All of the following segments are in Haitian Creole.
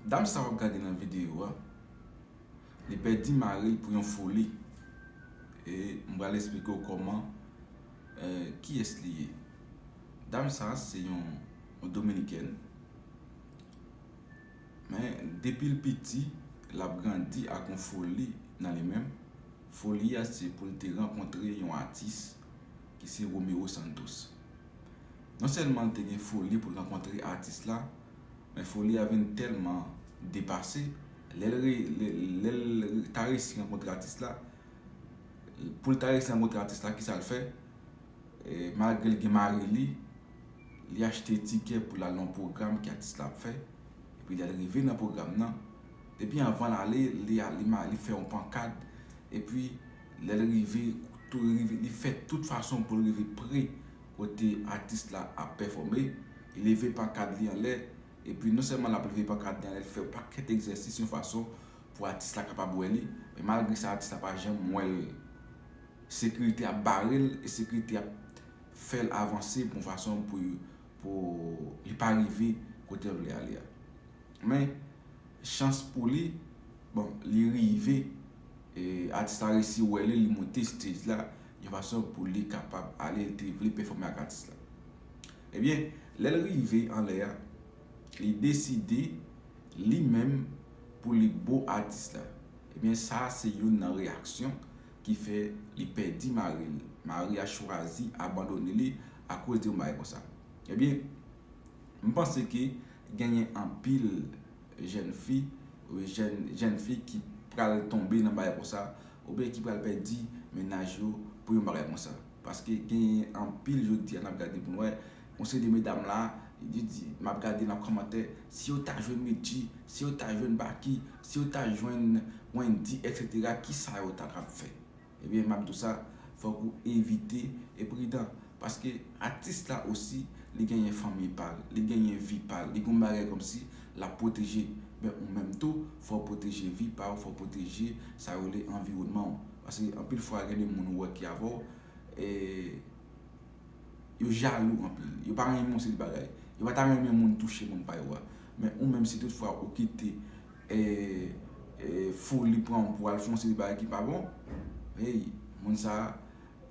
Dam sa wap gade nan video a li pèdi maril pou yon foli e m pral esplike w kòman kiyès li ye dam sa se yon dominikèn men depi l piti lap grandi ak yon foli nan li menm foli a se pou l te rankontre yon atis ki se Romero Santos non sèlman l te gen foli pou l rankontre atis la Men foli a vin tèlman depase, lè l lè l ta resi rankontre atis la, pou l ta resi rankontre atis la kisa l fè, malgre l gen mari li, li achte tikè pou l al nan yon pwogram ke atis la ap fè, epi lè l rive nan pwogram nan, depi anvan l ale, li al li fè yon pankad, epi lè l rive, li fè tout fason pou l rive pre kote atis la ap pèfòme. li leve pankad li anlè, epi non sèlman l ap leve pankad li anlè, li fè yon pakèt egzèsis yon fason pou atis la kapab wè li, men malgre sa atis la pa janm wè l, sekirite ap bare l e sekirite ap fè l avanse pou yon fason pou li pa rive kote l vle ale a. Men, chans pou li, bon, li rive, atis la resi wè li, li monte stage la yon fason pou li kapab ale, li te vle pèfòme ak atis la. Ebyen, lè l rive anlè a, li deside li menm pou li bo atis la. Ebyen sa se youn nan reyaksyon ki fè li pèdi mari l. Mari a chwazi abandone li akoz de yon bagay konsa. Ebyen, m panse ke genyen anpil jenn fi, jenn fi ki pral tonbe nan bagay konsa, oubyen ki pral pèdi mennaj yo pou yon bagay konsa. Paske gen anpil jodi a nap gade pou nou wè yon seri de medam la yo di map gade nan kòmantè si yo ta jwenn Medjy, si yo ta jwenn Baky, si yo ta jwenn Wendy etc kisa yo ta ka fè? Ebyen map di w sa fòk ou evite e pridan paske atis la osi li genyen fanmiy pa l, li genyen vi pa l, li gen yon bagay kòmsi lap pwoteje, men ou menm tou fòw pwoteje vi pa w, fòw pwoteje sa yo rele anviwònman w. Paske anpil fwa gen de moun ou wè ki avè w, e yo jalou anpil. Yo pa renmen yon seri de bagay. Yo pa ta renmen moun touche moun pa yo a. Men ou menm si tout fwa ou kite e foli pran w pou w al fè yon seri de bagay ki pa bon, hey, moun sa a,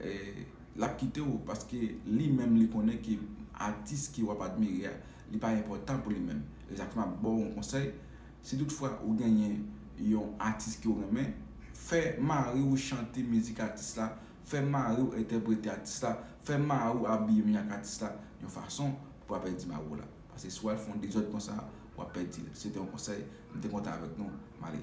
e l ap kite w. Paske li menm li konnen ke atis ke w ap admire a, li pa enpòtan pou li menm. E sa k fè m ap ba w yon konsèy. Si tout fwa ou genyen yon atis ke w renmen, fè mari w chante mizik atis la, fè mari w entèprete atis la, fè mari w abiye menm jan ak atis la, yon fason pou pa pèdi mari w la. Paske si w al fè yon dezòd konsa, w ap pèdi l. Se te yon konsèy m te kontan avèk nou. M ale.